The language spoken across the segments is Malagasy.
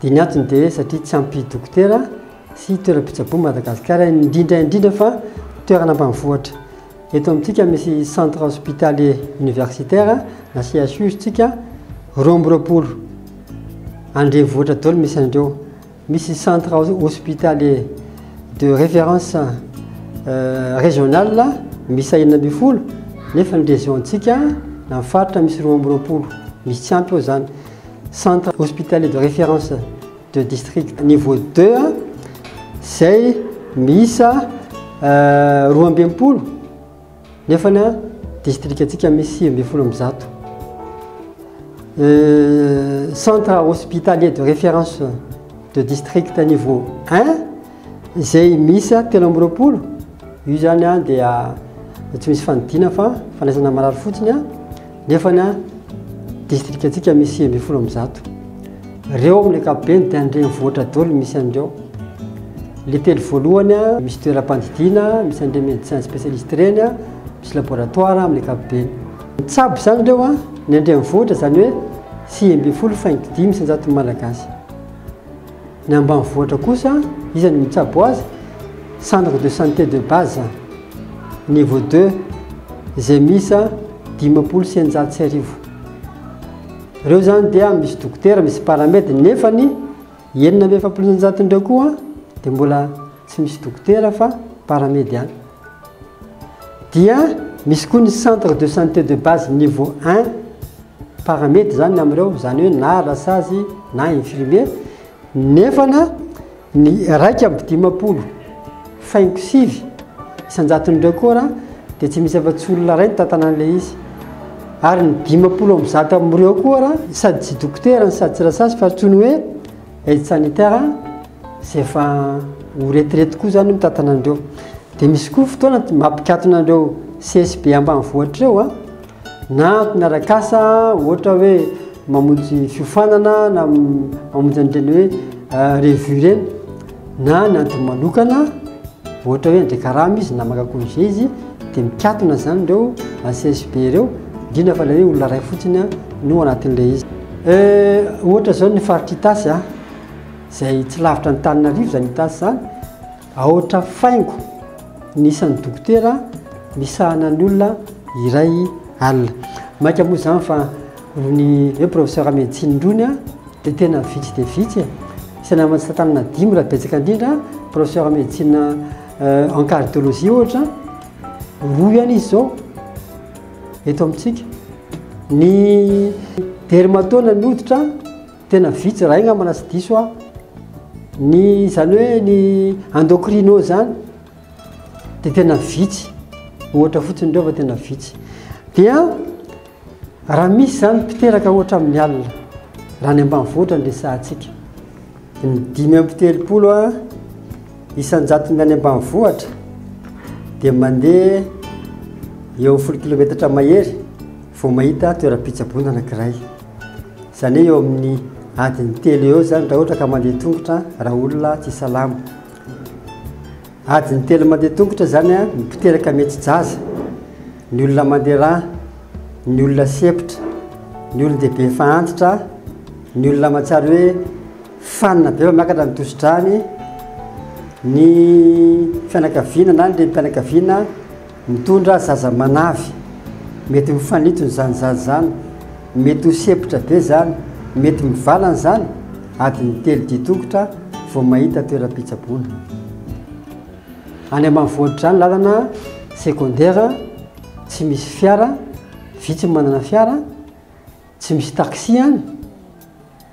Dia ny antony dia satria tsy ampy dokotera sy toeram-pitsaboana Madagasikara, indrindra indrindra fa toerana ambanivohitra. Eto amintsika misy Centre Hospitalier Universitaire na CHU isika roa amby roapolo. Any renivohitra daholo misy an'ireo. Misy Centre Hospitalier de Référence Régional miisa enina ambin'ny folo nefa ny Région-tsika na ny faritra misy roa amby roapolo. Misy tsy ampy eo izany. Centre Hospitalier de Référence de District Niveau 2 izay miisa roa amby enimpolo nefa ny distrikantsika misy sivy ambin'ny folo amby zato. Centre Hospitalier de Référence de District Niveau 1 Izay miisa telo amby roapolo, io zany an dia tsy misy fanidina fa fanaisana marary fotsiny an, nefa ny an distrika antsika misy sivy ambin'ny folo amby zato. Reo amin'ny ankapobeny dia andreny vohitra dolo misy an'ireo. Le telo voalohany an, misy toeram-pandidiana, misy andreny médecin spécialiste ireny an, misy laboratoire amin'ny ankapobeny. Mitsabo zany ireo an, ny andreny vohitra zany hoe sivy ambin'ny folo faingo dimy isan-jaton'ny malagasy. Ny ambanivohitra kosa, iza no mitsabo azy? Centre de santé de base niveau deux izay miisa dimampolo sy eninjato sy arivo. Ireo izany dia misy dokotera, misy paramed, nefa ny enina amby efapolo sy eninjato indray koa dia mbola tsy misy dokotera fa paramed ihany. Dia misy koa ny centre de santé de base niveau un, paramed izany amin'ireo, izany hoe na rasazy na infirmier, nefana ny iraika amby dimampolo faingo sivy isan-jaton'ireo kora dia tsy misy afa-tsy olona iray nitantana an'ilay izy. Ary ny dimampolo amby zato amin'ireo kora sady tsy dokotera sady tsy rasazy fa tsy ny hoe Aide sanitaire izay efa ho retraite koa izany mitantana an'ireo. Dia misy koa fotoana mampikatona an'ireo CSB ambanivohitra ireo a, na mpianarakasa ohatra hoe mamonjy fiofanana na mamonjy an'ireny hoe revue ireny. Na ny antony manokana, ohatra hoe andeha karama izy na maka congé izy dia mikatona izany ireo ACSB ireo, indrindra fa ilay hoe olona iray fotsiny no anatin'ilay izy. Eh, ohatra izao ny faritr'Itasy a, izay tsy lavitra ny Tananarivo izany Itasy izany, aotra faingo ny isan'ny dokotera misahana ny olona iray alina. Maika moa izany fa ny hoe professeur médecine irony a, Dia tena vitsy dia vitsy e! Isany ao amintsika tanana dimy raha betsaka indrindra, professeur médecine en cardiologie ohatra, roa ihany izy izao eto amintsika. Ny dermatona ny hoditra tena vitsy raha angamba na tsy diso aho. Ny izany hoe ny endocrino izany dia tena vitsy, ohatra fotsiny ireo fa tena vitsy. Dia Raha misy izany mpiteraka ohatra amin'ny alina, raha any ambanivohitra ny resahantsika, ny dimy amby telopolo isan-jatony any ambanivohitra dia mandeha eo amin'ny folo kilometatra mahery vao mahita toeram-pitsaboana anankiray. Izany hoe eo amin'ny adiny telo eo izany raha ohatra ka mandeha tongotra raha olona tsy salama. Adiny telo mandeha tongotra izany ny mpiteraka mety jaza, ny olona mandeha rà, ny olona sempotra, ny olon-dehibe efa antitra, ny olona aman-tsary hoe fanina be vao miakatra ny tosi-dràny, ny fianakaviana na ny renim-pianakaviana, Mitondra zaza manavy, mety ho fanitsony zany zaza zany, mety ho sempotra be zany, mety mivalana zany, adiny telo didokotra vao mahita toeram-pitsaboana. Any ambanivohitra zany lalana secondaire tsy misy fiara, vitsy manana fiara, Tsy misy taxi any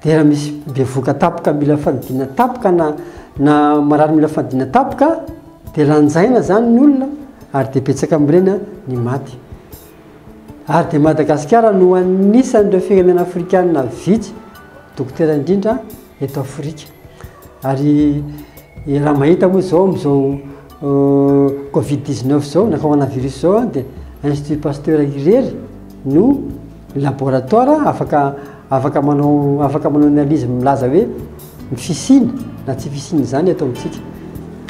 dia raha misy bevoka tapoka mila fanidina tapoka na na marary mila fanidina tapoka dia lanjaina zany ny olona ary dia betsaka amin'ireny ny maty ary dia Madagasikara no anisan'ireo firenena afrikanina vitsy dokotera indrindra eto Afrika. Ary raha mahita moa izao amin'izao Covid 19 izao na coronavirus izao dia Institut Pasteur irery no laboratoire afaka afaka manao afaka manao analyse milaza hoe ny fisiany na tsy fisiany izany eto amintsika.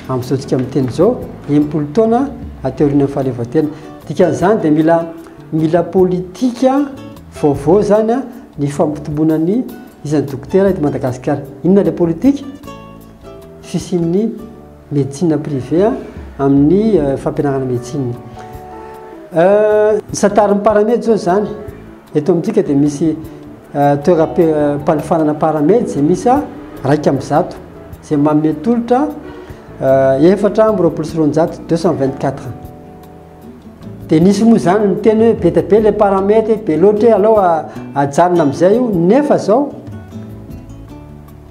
Amin'izao tsika miteny izao, enimpolo taona aty aorian'ny fahaleovantena. Dikan'izany dia mila mila politika vaovao izany ny fampitomboana ny Iza ny dokotera eto Madagasikara? Inona ilay politika? Fisian'ny médecine privée amin'ny fampianarana médecine. Ny santarin'ny paramedy izao izany, eto amintsika dia misy toeram-panofanana paramedy izay miisa iraika amby zato, izay manome tolotra efatra amby roapolo sy roanjato, deux cent vingt quatre. Dia nisy moa izany niteny hoe be dia be ilay paramètre, be loatra hoe alao ajanona amin'izay io, nefa izao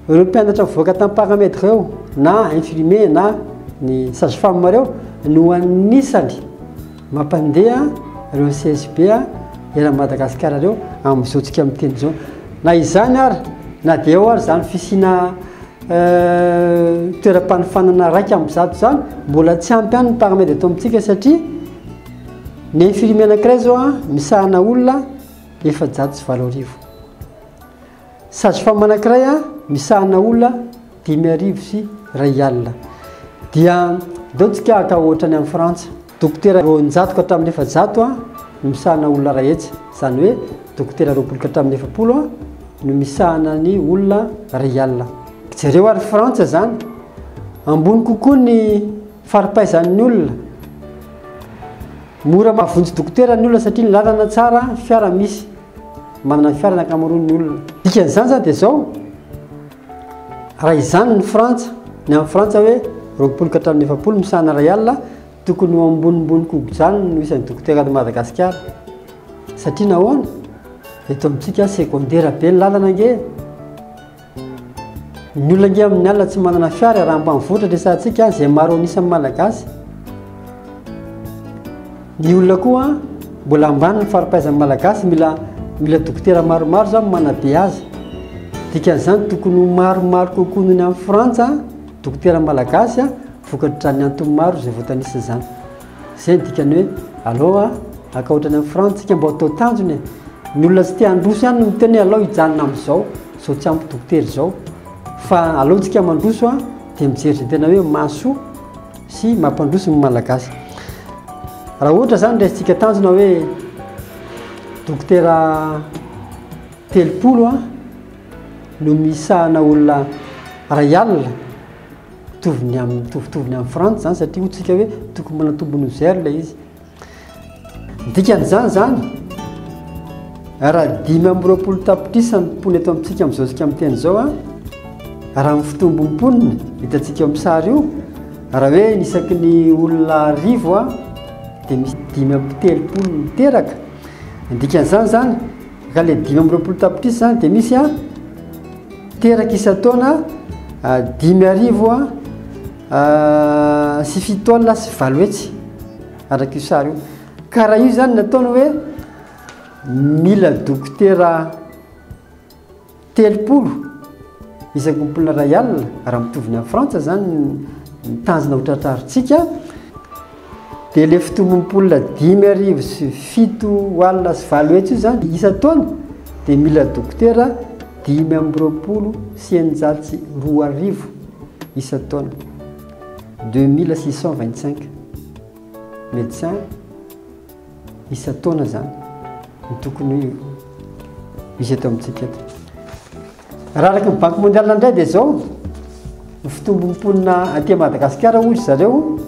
ireo mpianatra mivoaka tamin'ny paramètre ireo na infirmier na ny sage femme ireo no anisany mampandeha ireo CSB eran'i Madagasikara ireo amin'izao tsika miteny izao. Na izany ary na dia eo ary izany fisiana toeram-panofanana iraika amby zato izany mbola tsy ampy ihany ny paramed eto amintsika satria ny infirmier anankiray zao a misahana olona efajato sy valo arivo sage-femme anankiray a misahana olona dimy arivo sy iray alina dia deo tsika haka ohatra any amin'ny frantsa Dokotera roanjato ka hatramin'ny efajato no misahana olona iray hetsy, izany hoe dokotera roapolo ka hatramin'ny efapolo no misahana ny olona iray alina. Jereo ary Frantsa izany, ambony kokoa ny fari-paizan'ny olona. Mora mahavonjy dokotera ny olona satria ny lalana tsara, ny fiara misy. Manana ny fiara ny ankamaroan'ny olona. Dikan'izany izany dia izao. Raha izany ny Frantsa, ny any Frantsa hoe roapolo ka hatramin'ny efapolo misahana iray alina, tokony ho ambonimbony kogojanony no isan'ny dokotera any Madagasikara. Satria nahoana? Eto amintsika segondera be ny lalana ange. Ny olona ange amin'ny alina tsy manana fiara, raha ambanivohitra ny resahantsika, izay maro an'isan'ny Malagasy. Ny olona koa mbola ambany ny faripaizan'ny malagasy mila mila dokotera maromaro izany no manabe azy. Dikan'izany tokony ho maromaro kokoa noho ny any Frantsa dokotera malagasy vokatr'izany antony maro izay voatanisa izany. Izay ny dikany hoe aleo haka ohatran'ny any Frantsa isika mba hatao tanjona e. Ny olona tsy te handroso ihany no miteny hoe aleo hijanona amin'izao, izao tsy ampy dokotera izao. Fa aleontsika mandroso dia mijery izay tena hoe mahasoa. sy mampandroso ny Malagasy. Raha ohatra izany raisintsika tanjona hoe dokotera telopolo no misahana olona ray alina, mitovy ny amin'ny mitovitovy ny amin'ny Frantsa izany satria hoy isika hoe tokony mbola nitombo noho zero ilay izy. Ny dikan'izany izany, raha dimy amby roapolo tapitrisa ny mponina eto amintsika amin'izao isika miteny izao, raha ny fitombon'ny mponina hitantsika eo amin'ny sary io, raha hoe ny isaky ny olona arivo dia misy dimy amby telopolo miteraka. Ny dikan'izany izany, ka ilay dimy amby roapolo tapitrisa izany dia misy teraka isan-taona dimy arivo sy fito taona sy valo hetsy araka io sary io ka raha io zany nataony hoe mila dokotera telopolo isan-kompola ray alina raha mitovy ny any frantsa zany ny tanjona ho tratrarintsika Dia ilay fitombom-polona dimy arivo sy fito alina sy valo hetsy io izany isan-taona dia mila dokotera dimy amby roapolo sy eninjato sy roa arivo isan-taona, deux mille six cent vingt-cinq médecins. isan-taona zany ny tokony misy eto amintsika eto. Raha araka ny Banque mondiale indray dia izao ny fitombon'ny mponina aty Madagasikara hoy zareo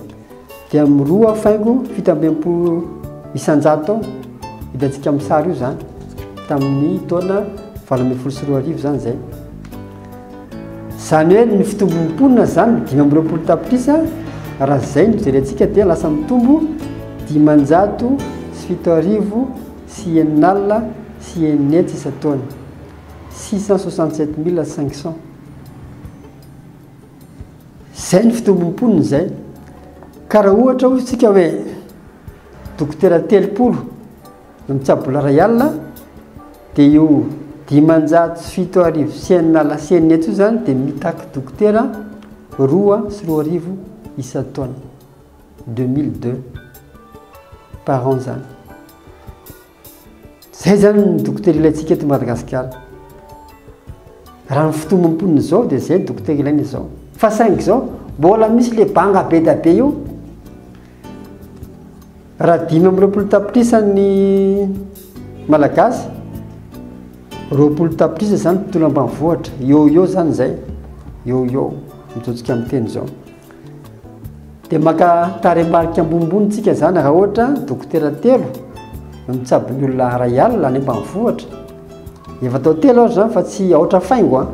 dia miroa faingo fito amby enimpolo isan-jato ao hitantsika amin'ny sary io zany tamin'ny taona valo ambin'ny folo sy roa arivo zany izay. Izany hoe ny fitombon'ny mponina izany dimy amby roapolo tapitrisa raha izay no jerentsika dia lasa mitombo dimanjato sy fito arivo sy enina alina sy enina hetsy isan-taona, six cent soixante sept mille cinq cents. Izay ny fitombon'ny mponina izay. Ka raha ohatra hoy isika hoe dokotera telopolo, Ny tsabola iray alina dia io dimanjato sy fito arivo sy enina alina sy enina eto io izany dia mitaky dokotera roa sy roa arivo isan-taona. 2002 par an izany. Izay izany ny dokotera ilaintsika eto Madagasikara. Raha ny fotoam-ponina izao dia izay ny dokotera ilaina izao. Fa saingy izao mbola misy le banga be dia be io. Raha dimy amby roapolo tapitrisa ny Malagasy, roapolo tapitrisa izany tontolo ambanivohitra, eo eo izany izay, eo eo, mijojika amin'ny teny izao. Dia maka tarehimarika ambonimbony tsika izany raha ohatra dokotera telo no mitsabo ny olona iray alina any ambanivohitra. Efa atao telo aho izany fa tsy aotra faingo an.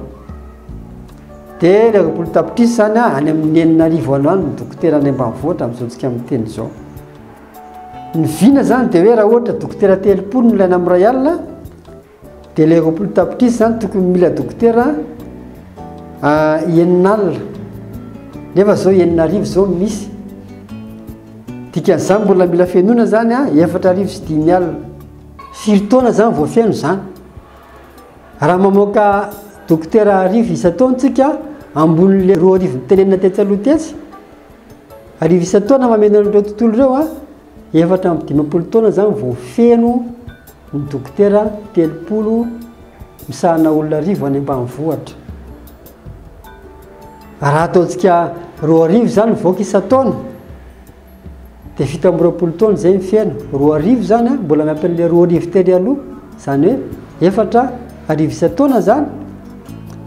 Dia ny roapolo tapitrisa zany a, any amin'ny enina arivo any ho any ny dokotera any ambanivohitra amin'izao tsika miteny izao. Ny vina zany dia hoe raha ohatra dokotera telopolo no ilaina amin'ny iray alina dia ilay roapolo tapitrisa zany tokony mila dokotera ah, enina alina. Nefa zao enina arivo zao no misy. Dikan'izany mbola mila fenoina zany a, efatra arivo sy dimy alina. Firy taona zany vao feno zany? Raha mamoaka dokotera arivo isan-taona tsika, ambonin'ilay roa arivo nitenenina tetsy aloha tetsy, arivo isan-taona mameno an'ireo tontolo ireo, efatra amby dimampolo taona izany vao feno ny dokotera telopolo misahana olona arivo any ambanivohitra. Raha ataontsika roa arivo izany mivoaka isan-taona, Dia fito amby roapolo taona izay ny feno. Roa arivo izany an, mbola miampy an'ilay roa arivo tery aloha, izany hoe efatra arivo isan-taona izany,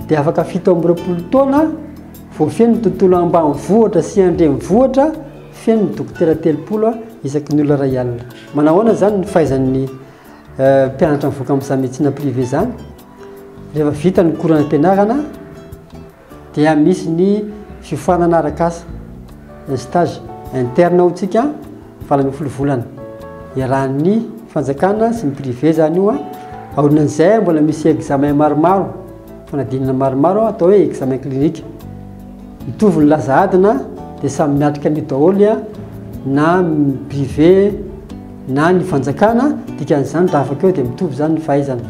dia afaka fito amby roapolo taona voafeno ny tontolo ambanivohitra sy andrenivohitra, feno ny dokotera telopolo isaky ny olona iray alina. Manao ahoana izany ny fahaizan'ny eh, mpianatra mivoaka amin'izany médecine privée izany? Rehefa vita ny cours-n'ampianarana, Dia misy ny fiofanana arak'asa, un stage interne ao tsika valo ambin'ny folo volana. Iarahan'ny fanjakana sy ny privé zany io an. Aorian'izay mbola misy examen maromaro, fanadinana maromaro atao hoe examen clinique. Mitovy ny laza adina dia samy miatrika an'io daholo an, na privé na ny fanjakana, dikan'izany raha afaka eo dia mitovy zany ny fahaizana.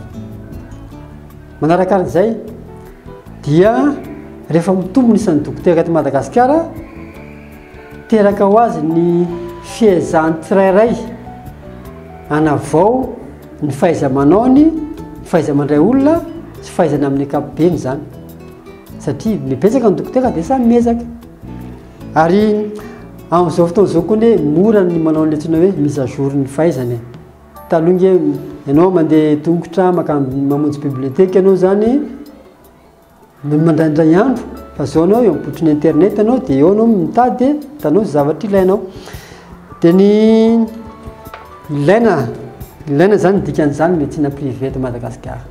Manarakarak'izay dia rehefa mitombo ny isan'ny dokotera eto Madagasikara, teraka ho azy ny fiezahan'ny tsirairay hanavao ny fahaiza-manaony, ny fahaiza-mandray olona sy fahaizany amin'ny ankapobeny izany. Satria ny betsaka ny dokotera dia samy miezaka. Ary amin'izao fotoana izao koa anie mora ny manao ny antsoina hoe mise à jour ny fahaizany. Taloha nge ianao mandeha tongotra makany mamonjy bibliothèque ianao zany no mandraindray andro fa zao anao eo ampotriny internet anao de eo anao mitady tanao zay zavatra ilainao de ny ilaina ilaina zany dikan'izany médecine privée eto Madagasikara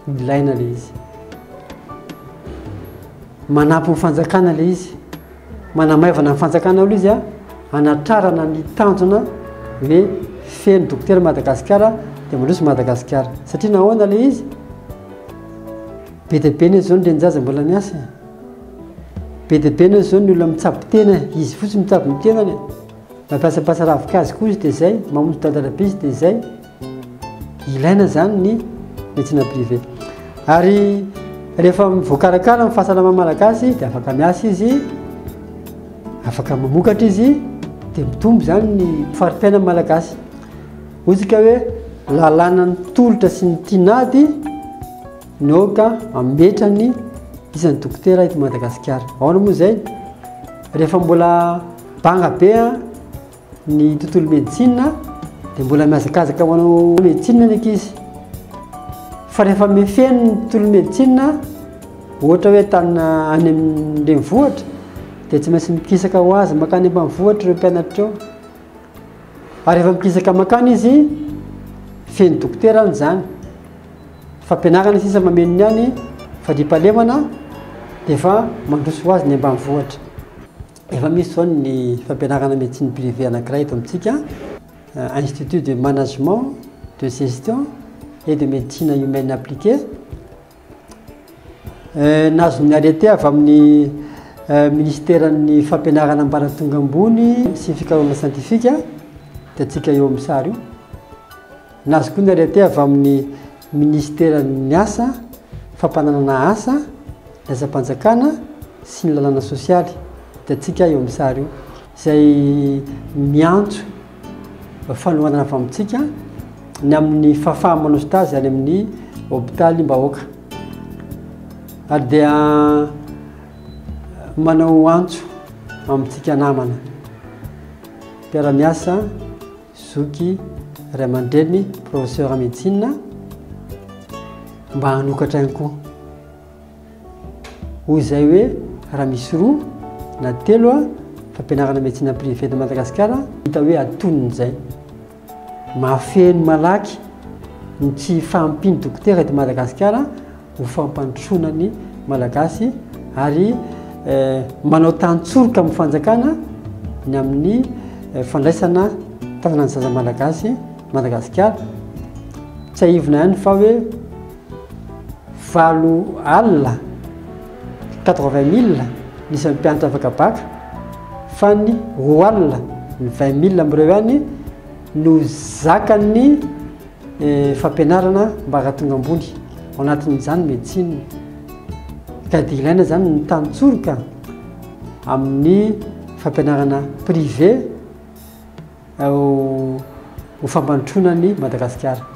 ilaina le izy manampy ny fanjakana le izy Manamaivana ny fanjakana aloha izy hanatrarana ny tanjona hoe feno dokotera Madagasikara dia mandroso Madagasikara. Satria nahoana ilay izy? Be dia be ny izao ny renin-jaza mbola miasa e. Be dia be ny izao ny olona mitsabo tena e. Izy fotsiny mitsabo ny tenany e. Mampiasampiasa ravin-kazo koa izy dia izay, mamonjy dadalabe izy dia izay. Ilaina izany ny médecine privée. Ary rehefa voakarakara ny fahasalamana malagasy dia afaka miasa izy, afaka mamokatra izy, dia mitombo izany ny fari-piainan'ny malagasy. Otsika hoe lalàna ny tolotra sy ny tinady ny aoka ametrany isan'ny dokotera eto Madagasikara. Ahoana moa izay? Rehefa mbola banga be Ny tontolo medecine dia mbola mihazakazaka manao medecine ny ankizy. Fa rehefa mifehy ny tontolo medecine, ohatra hoe tany any amin'ny renivohitra, dia tsy maintsy mikisaka ho azy makany ambanivohitra ireo mpianatra ireo. Ary rehefa mikisaka makany izy, feno dokotera any izany. Fampianarana sisa mameno ny any, fandriampahalemana dia efa mandroso ho azy ny ambanivohitra. Efa misy izao ny fampianarana médecine privée anankiray eto amintsika, Institut de management, de gestion et de médecine humaine appliquée. Nahazo ny arrêté avy amin'ny ministeran'ny fampianarana ambaratonga ambony sy fikarohana siantifika, hitantsika eo amin'ny sary io. Nazokoana ary aty avy amin'ny Minisiteran'ny Asa, Fampananana Asa, ny Asam-panjakana sy ny Lalàna Sosialy, hitantsika eo amin'ny sary io, izay miantso fanohanana avy amintsika ny amin'ny fahafaha-manao stage any amin'ny hopitalim-bahoaka. Ary dia manao antso amintsika namana mpiara-miasa. Zoky ray aman-dreniny professeur médecine mba hanokatra ihany koa. Hoy izay hoe raha misy roa na telo a fampianarana médecine privée eto Madagasikara hita hoe atonony izay. Mahafeno malaky ny tsy fahampian'ny dokotera eto Madagasikara ho fampandrosoana ny Malagasy ary manao tantsoroka amin'ny fanjakana ny amin'ny fandraisana tananan'ny zaza Malagasy Madagasikara. Tsahivina ihany fa hoe valo alina 80 mille ny isan'ny mpianatra afaka baka fa ny roa alina ny 20 mille amin'ireo ihany no zakan'ny Ny fampianarana mba hahatonga ambony, ao anatin'izany ny médecine. Ka dia ilaina izany ny tantsoroka amin'ny fampianarana privé ao ho fampandrosoana an'i Madagasikara.